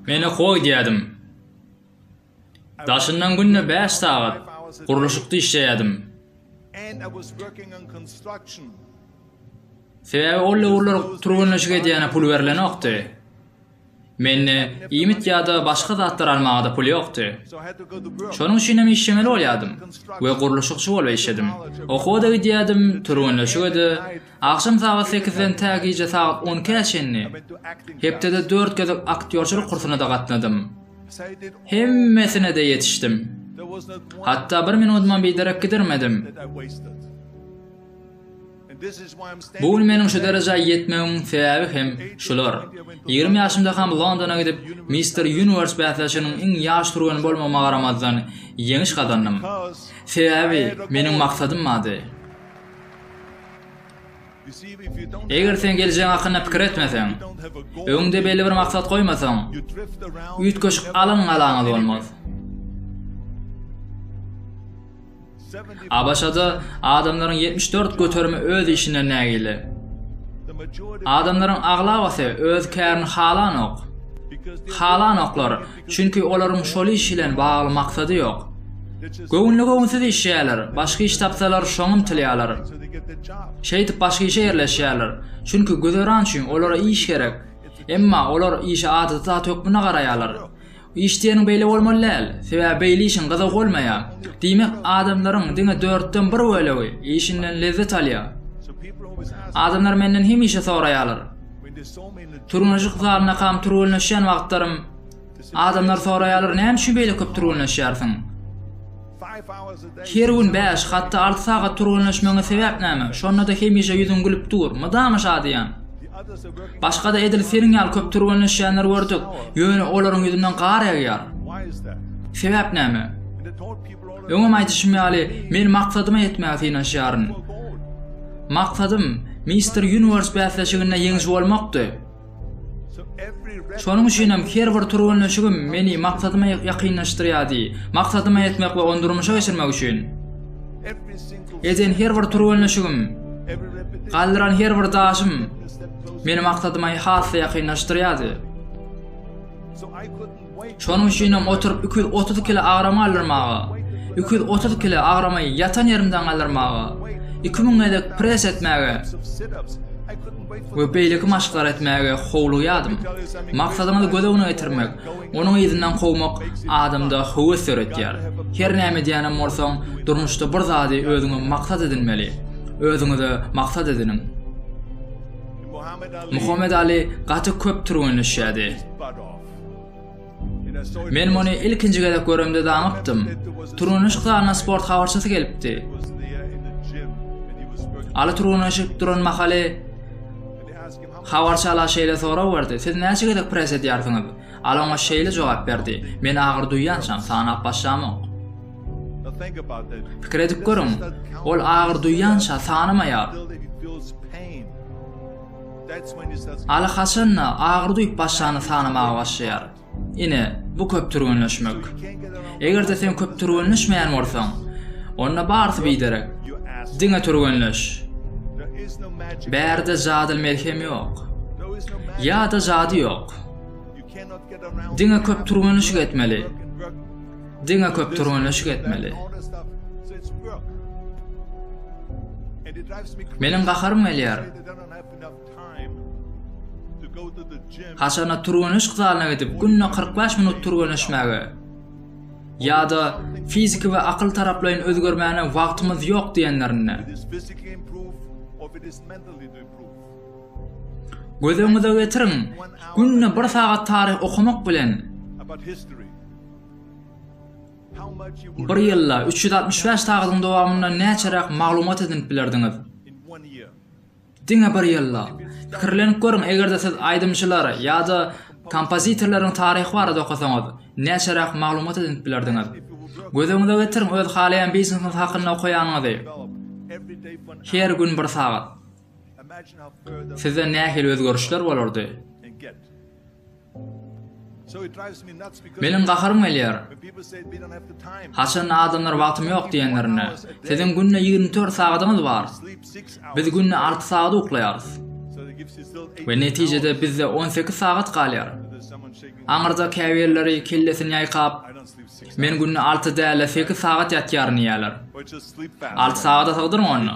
Menä goý diýýädim. Daşyndan günde 5 sagat gurluşykda işleýädim. Sebäbi ol döwürler türgenleşik edýäne pul berlenokdy. Mende iýmit ýa-da başga zatlar almaga-da pul ýokdy. Şonuň üçinem işlemeli bolýardym we gurluşykçy bolup işledim. Okuwa-da gidýärdim, türgenleşige-de. Agşam sagat sekizden tä gije sagat on ikä çenli. Hepdede dört gezek aktýorçylyk kursuna-da gatnadym. Hemmesine-de ýetişdim. Hatda bir minudymam biderek gidirmedim. Bu gün meniň şu derejä ýetmegimiň sebäbi hem şular. Ýigrimi ýaşymdakam Londona gidip, Mister Universe bäsleşiginiň iň ýaş türgeni bolmagyma garamazdan, ýeňiş gazandym. Sebäbi meniň maksadym bardy. Eger sen geljegiň hakynda pikir etmeseň, öňüňde belli bir maksat goýmasaň, üýtgeşik alan-galaňyz bolmaz. ABŞ-da adamlaryň ýetmiş dört göterimi öz işinden nägile. Adamlaryň aglabasy öz kärini halanok. Halanoklar, çünki olaryň şol iş bilen bagly maksady ýok. Göwünli-göwünsiz işleýärler, başga iş tapsalar şoňa ymtylýarlar. Şeýdip başga işe ýerleşýärler, çünki güzeran üçin olara iş gerek. Emma olar işe adaty zat hökmünde garaýarlar. Iş diýeniň beýle bolmaly däl, sebäbi beýle işiň gyzygy bolmaýar. Diýmek, adamlaryň diňe dörtden bir bölegi işinden lezzet alýar. Adamlar menden hemişe soraýarlar. Türgenleşik zalyndakam türgenleşýän wagtlarym adamlar soraýarlar, näme üçin beýle köp türgenleşýärsiň? Her gün bäş, hatda alty sagat türgenleşmegiňe sebäp näme? Şonda-da hemişe ýüzüň gülüp dur. Mydama şadyýan. Başga-da edil seniň ýaly köp türgenleşýänler gördük, ýöne olaryň ýüzünden gar ýagýar. Sebäp näme? Öňem aýdyşym ýaly, men maksadyma ýetmäge synanyşýaryn. Maksadym Mister Uniwers bäsleşiginde ýeňiji bolmakdy. Şonuň üçin hem her bir türgenleşigim meni maksadyma ýakynlaşdyrýardy. Maksadyma ýetmek we ony durmuşa geçirmek üçin eden her bir türgenleşigim, galdyran her bir daşym meni maksadyma has-da ýakynlaşdyrýardy. Şonuň üçinem oturyp iki ýüz otuz kile agramy galdyrmaga, iki ýüz otuz kile agramy ýatan ýerimden galdyrmaga, iki müň gezek pres etmäge we beýleki maşklary etmäge howlugýardym. Maksadyňyzy göz öňüne getirmek, onuň yzyndan kowmak adamda höwes döretýär. Her näme edýänem bolsaň, durmuşda bir zady özüňe maksat edinmeli. Özüňize maksat ediniň. Muhammet Ali gaty köp türgenleşýärdi. Men muny ilkinji gezek göremde danypdym. Turganyşyk zalyna sport habarçysy gelipdi. Aly turganyşyp duran mahaly habarçy ala şeýle sorag berdi. Siz näçe gezek pres edýärsiňiz? Al oňa şeýle jogap berdi. Men agyr duýýançam sanap başlamok. Pikir edip görüň. Ol agyr duýýança sanamaýar. Aly haçan-da agyr duýup başlany sanamaga başlaýar. Ine, bu köp türgenleşmek. Eger-de sen köp türgenleşmeýän bolsaň, onda barysy biderek. Diňe türgenleş. Bärde jadyl melhem ýok. Ýa-da jady ýok. Diňe köp türgenleşik etmeli. Diňe köp türgenleşik etmeli. Meniň gaharym gelýär. Haçanda türgenleşik zalyna gidip, günde kyrk bäş minut türgenleşmäge ýa-da fiziki we akyl taraplaýyn özgermäne wagtymyz ýok diýenlerinde. Göz öňüňize getiriň, günde bir sagat taryh okamak bilen, Bir ýylda üç ýüz altmyş bäş sagadyň dowamynda näçeräk maglumat edinip bilerdiňiz? Diňe bir ýylda. Pikirlenip görüň, eger-de siz aýdymçylar ýa-da kompozitorlaryň taryhy barada okasaňyz, näçeräk maglumat edinip bilerdiňiz? Göz öňüňize getiriň öz halaýan biznesiňiz hakynda okaýanyňyzy. Her gün bir sagat. Sizde nähili özgerişler bolardy? Meniň gaharym gelýär. Haçanda adamlar wagtym ýok diýenlerinde, Siziň günde ýigrimi dört sagadyňyz bar. Biz günde alty sagat uklaýarys. We netijede bizde on sekiz sagat galýar. Aňyrda käbirleri kellesini ýaýkap, Men günde alty däl-de sekiz sagat ýatýaryn diýýärler. Alty sagada sygdyryň onda.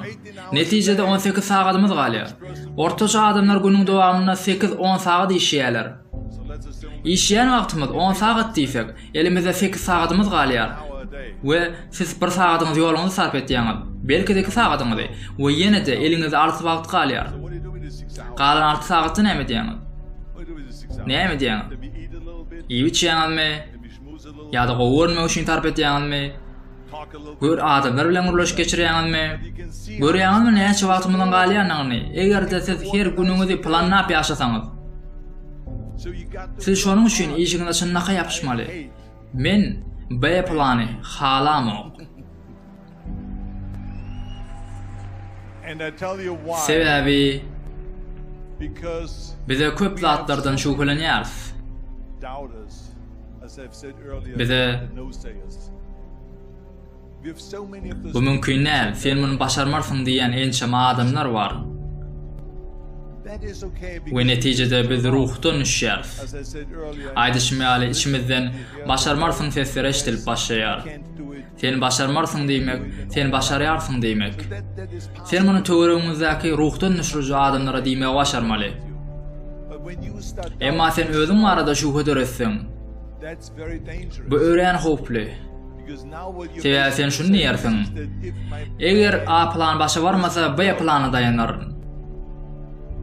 Netijede on sekiz sagadymyz galýar. Ortaça adamlar günüň dowamynda sekiz-on sagat işeýärler. Işeýän wagtymyz on sagat diýsek, elimizde sekiz sagadymyz galýar we siz bir sagadyňyzy ýoluňyza sarp etýäňiz, belki-de iki sagadyňyzy we ýene-de eliňizde alty wagt galýar. Galan alty sagatda näme edýäňiz? Näme edýäňiz? Iýip-içýäňizmi? ýa-da gowy görünmek üçin sarp edýäňizmi? Gör adamlar bilen gürleşik geçirýäňizmi? Görýäňizmi näçe wagtymyzyň galýanyny? Eger-de siz her günüňizi planlap ýaşasaňyz. Siz şonuň üçin işiňize çynlakaý ýapyşmaly. Men B plany halamok. Sebäbi bize köp zatlardan şübhelenýäris. Bize Bu mümkin däl, sen muny başarmarsyň diýen ençeme adamlar bar. We netijede biz ruhdan düşýäris. Aýdyşym ýaly içimizden başarmarsyň sesleri eşidilip başlaýar. Sen başarmarsyň diýmek, sen başarýarsyň diýmek. Sen muny töweregiňizdäki ruhdan düşüriji adamlara diýmegi başarmaly. Emma sen özüň barada şübhe döretseň, bu örän howply. Sebäbi sen şuny diýersiň. Eger A plan başa barmasa, B plana daýanaryn.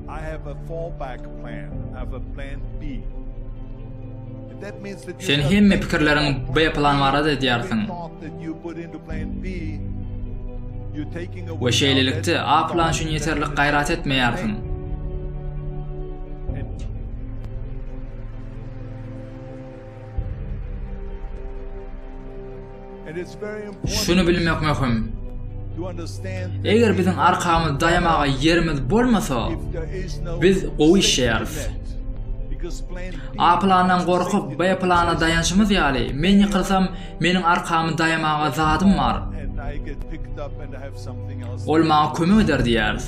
I have a fallback plan. I have a plan B. Sen hemme pikirleriňi B plan barada edýärsiň. We şeýlelikde A plan üçin ýeterlik gaýrat etmeýärsiň. Şuny bilmek möhüm. Eger biziň arkamyz daýamaga ýerimiz bolmasa, biz gowy işleýäris. A plandan gorkup, B plana daýanşymyz ýaly, men ýykylsam, meniň arkamy daýamaga zadym bar. Ol maňa kömek eder diýýäris.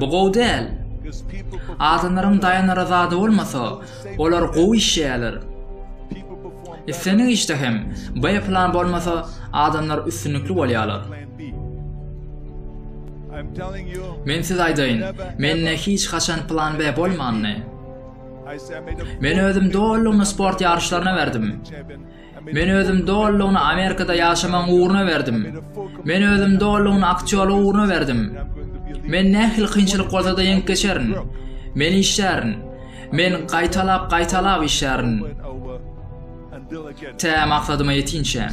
Bu gowy däl. Adamlaryň daýanara zady bolmasa, Olar gowy işleýärler. Islendik işde hem B plan bolmasa, adamlar üstünlikli bolýarlar. Men size aýdaýyn, mende hiç haçan plan B bolmandy. Men özüm dolylygyna sport ýaryşlaryna berdim. Men özüm dolulygyna Amerikada ýaşamagyň ugruna berdim. Men özüm dolulygyna aktýorlyk ugruna berdim. Men nähili kynçylyk bolsa-da ýeňip geçerin. Men işlärin. Men gaýtalap, gaýtalap işlärin. Tä maksadyma ýetinçä.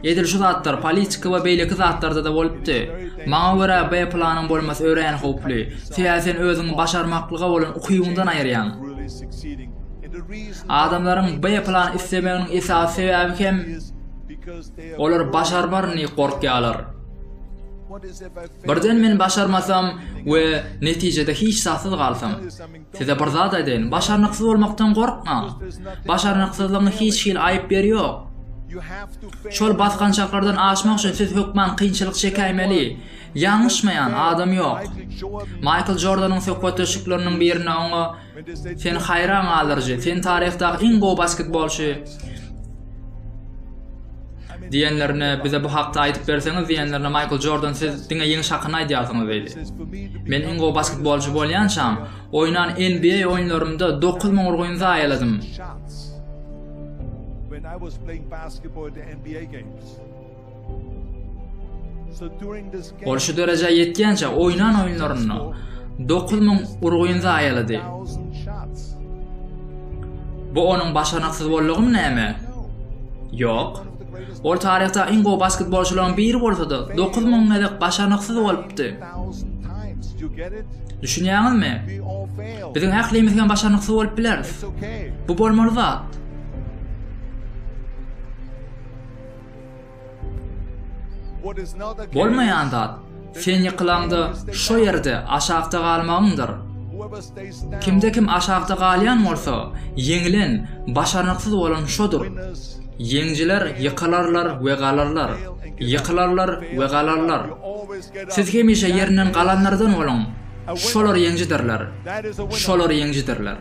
Edil şu zatlar politika we beýleki zatlarda-da bolupdy. Maňa görä B planyň bolmasy örän howply. Sebäbi sen özüňi başarmaklyga bolan ukybyňdan aýyrýaň. Adamlaryň B plany islemeginiň esasy sebäbi hem olar başarmarny gorkýarlar. Birden men başarmasam we netijede hiç zatsyz galsam. Size bir zat aýdaýyn, başarnyksyz bolmakdan gorkmaň. Başarnyksyzlygyň hiç hili aýyp ýeri ýok. Şol basgançaklardan aşmak üçin siz hökman kynçylyk çekäýmeli. Ýalňyşmaýan adam ýok. Maýkl Jordanyň söhbetdeşlikleriniň birinde oňa Sen haýran galdyryjy, sen taryhdaky iň gowy basketbolçy diýenlerine bize bu hakda aýdyp berseňiz diýenlerine Maýkl Jordan siz diňe ýeňiş hakynda aýdýarsyňyz diýdi. Men iň gowy basketbolçy bolýançam, oýnan NBA oýunlarymda 9000 urgun zaýaladym. Ol şu derejä ýetýänçä oýnan oýunlarynda 9000 urgyny zaýalady. Bu onuň başarnyksyz boldugymy näme? Ýok. Ol taryhda iň gowy basketbolçylaryň biri bolsa-da, 9000 gezek başarnyksyz bolupdy. Düşünýäňizmi? Biziň ählimiz hem başarnyksyz bolup bileris. Bu bolmaly zat. Bolmaýan zat, sen ýykylaňda şo ýerde aşakda galmagyňdyr. Kimde-kim aşakda galýan bolsa, ýeňilen, başarnyksyz bolan şodur. Ýeňijiler ýykylarlar we galarlar, ýykylarlar we galarlar. Siz hemişe ýerinden galanlardan boluň. Şolar ýeňijidirler. Şolar ýeňijidirler.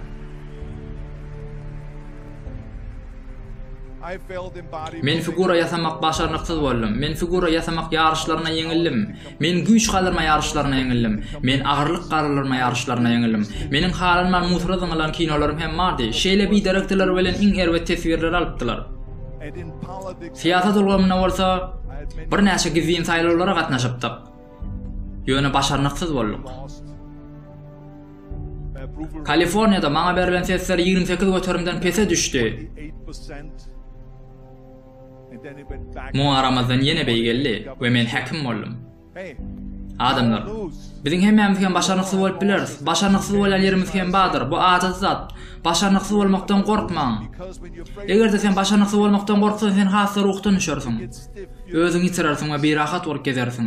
Men figura ýasamak başarnyksyz boldum. Men figura ýasamak ýaryşlaryna ýeňildim. Men güýç galdyrma ýaryşlaryna ýeňildim. Men agyrlyk galdyrma ýaryşlaryna ýeňildim. Meniň halanman musura zyňylan kinolarym hem bardy. Şeýle biderekdiler bilen iň erbet teswirleri alypdylar. Syýasat ulgamynda bolsa birnäçe gizlin saýlawlara gatnaşypdyk. Ýöne başarnyksyz bolduk. Kaliforniýada maňa berlen sesler 28 göterimden pese düşdi. Muňa garamazdan ýene beý geldi we men häkim boldum. Adamlar, biziň hemmämiz hem başarnyksyz bolup bileris. Başarnyksyz bolýan ýerimiz hem bardyr. Bu adaty zat. Başarnyksyz bolmakdan gorkmaň. Eger-de sen başarnyksyz bolmakdan gorksaň, sen has-da ruhdan düşersiň. Özüňi ýitirersiň we birahat bolup gezersiň.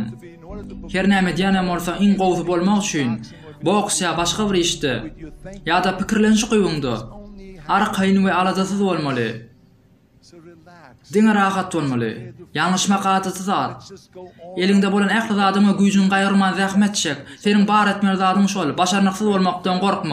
Her näme edýänem bolsa iň gowusy bolmak üçin, boks ýa başga bir işde, ýa-da pikirlenişi kywuňda, arkaýyn we aladasyz bolmaly. Diňe rahat bolmaly. Ýalňyşmak adaty zat. Eliňde bolan ähli zadyň we güýjüňi gaýgyrman zähmet çek. Seniň bar etmeli zadyň şol, başarnyksyz bolmakdan gorkma.